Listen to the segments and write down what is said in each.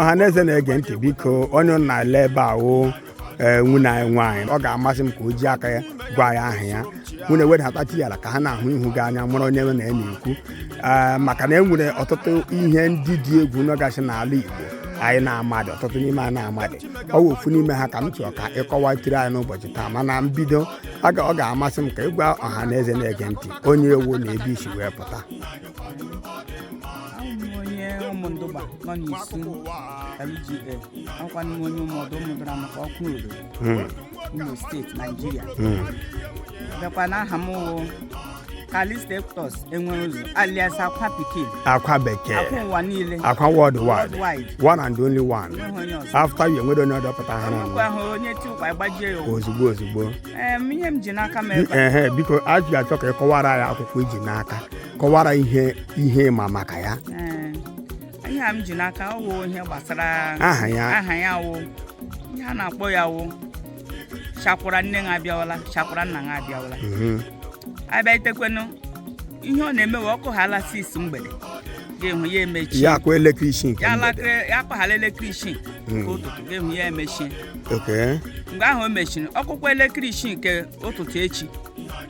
ọha na eze na-ege ntị biko onye unu na-ele ebe a wụ ee nwunne anyị nwaanyị ọ ga-amasị m ka o ji aka ya gwa ya aha ya nwunne wedatatị ya ala ka ha na-ahụ ihu gị anya mụrụ onye na ya na-ekwu ee maka na e nwere ọtụtụ ihe ndị dị egwu nọgasị n'ala Igbo anyị na-amadị ọtụtụ n'ime anyị na-amadị ọ wụ ofu n'ime ha ka m chọrọ ka ị kọwatịrị anyị n'ụbọchị taa mana mbido ọ ga-amasị m ka ị gwa ọha na eze na-ege ntị onye ị wụ na ebe i si wee pụta onye Ụmụndụgba nọ n'Isu LGA ọkwa n'ime onye ụmụdụ ụmụdụra maka Okwudor Imo steeti Naijiria bịakwa n'aha m wụ Kalista Eptos Enwereụzọ alias akwa pikin akwa bekee akwa ụwa niile akwa worldwide Worldwide. one and only one Enweghị onye ọzọ. after you e nwedị onye ọdọ pụta ha ọkwa n'ọnụ ahụ onye ti ụkwa gbajie ya ụwa ozugbo ozugbo Em, ihe m ji n'aka m ebe a. ehe biko a ji achọ ka ị kọwara ya akwụkwọ i ji n'aka kọwara ihe ihe ị ma maka ya Ee, ihe a m ji n'aka ọ wụ ihe gbasara Aha ya. aha ya wụ ihe a na-akpọ ya wụ chakwara nne ha abịawala chakwara nna ha abịawala Mhm. a bịa itekwenu ihe ọ na-eme wụ ọ kụhala six mgbede ga-enwe ya emechi ya akụ elekere isii nke ya mgbede. elekere ya akụhala elekere isii nke ụtụtụ gị ehu ya emechie okay mgbe ahụ o mechiri ọ kụkwa elekere isii nke ụtụtụ echi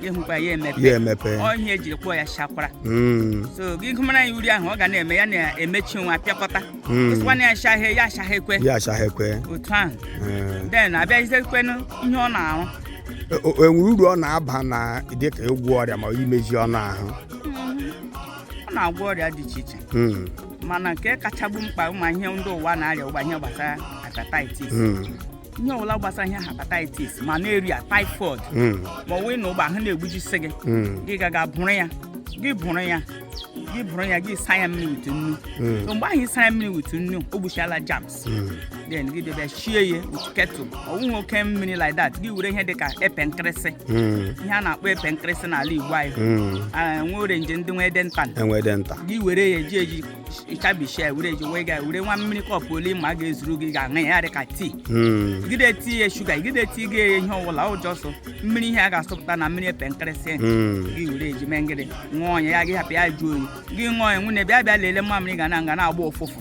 gị ehukwa ya ya emepe emepe ọ ihe e ji kpọọ ya shakwara Mm, so gị gụwara ya uri ahụ ọ ga na-eme ya na-emechi na-apịakọta Mm. ị sịkwanụ ya shahie ya shahekwe ya ashahekwe otu ahụ Eh, den a bịazikwenụ ihe ọ na-arụ o- o- e nwere uru ọ na-aba na dịka ịgwọ ọrịa ma imezi anụ ahụ ọ na-agwọ ọrịa dị iche iche Mm. mana nke kacha bụ mkpa ị ma ihe ndị ụwa na-arịa ugbu a ihe gbasara hepatitis Mm, ihe ọbụla gbasara ihe hepatitis malaria typhoid mm, ma ọ wụ na ugbu a ahụ na-egbujisi gị mm, gị gaga buru ya gị buru ya gị buru ya gị saa ya mmiri wit nnu mm. so mgbe ahụ ị sara mmiri wit nnu o gbuchala germs then gị bịa shie ya ketụ ọ wụghị oke mmiri like that gị were ihe dịka epe nkịrịsị ihe a na-akpọ epe nkịrịsị n'ala Igbo anyị Ah, nwa orenji ndị nwe ede nta enwe dị nta gị were ya eji eji chabishia were eji wee ga were nwa mmiri kọpụ ole ị ma ga-ezuru gị ga-aṅụ ya dịka tii Mm. gị na-etighị ya shuga gị na-etighị ihe ọbụla ọ wụ sọ mmiri ihe a ga-asọpụta na mmiri epe nkịrịsị Mm. gị were eji mee ngịrị ṅụọ ya ya gị hapụ ya jụọ oyi gị ṅụọ ya nwunne bịa bịa lelee mamịrị gị na ọ ga na-agba ụfụfụ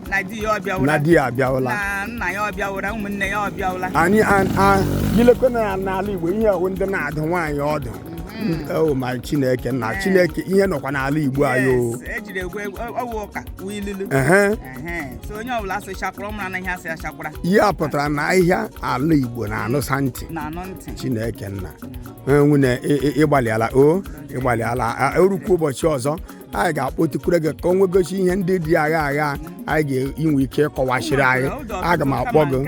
na di ya na ọbịawụla di ya abịawụla na nna ya abịawụla ụmụnne ya abịawụla anyị a- a- i lekwe na n'ala igbo ihe ahụ ndị na-adụ nwaanyị ọdụ o ma chineke nna chineke ihe nọkwa n'ala igbo anyị o Yes, e jiri egwu egwu ọ- ọ wụ ụka wụ ilulu ehe Ehe, so onye ọbụla a sị chakwara ọ mara na ihe a sị ya chakwara ihe a pụtara na ahịhịa ala igbo na-anụsa ntị na-anụ ntị chineke nna nwunne ị- ị- ị gbalịala o ị gbalịala a- e rukwa ụbọchị ọzọ anyị ga-akpọtukwure gị ka o nwegosi ihe ndị dị agha agha anyị ga-enwe ike ịkọwasịrị anyị aga m akpọ gị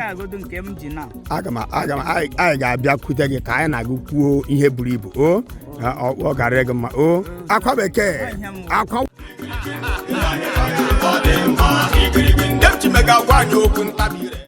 aga m aga m anyị anyị ga-abịakwute gị ka anyị na gị kwuo ihe buru ibu o na ọ ọ gara gị mma o akwa bekee akwa Ndị m ji mega agwa anyị okwu ntabi ire.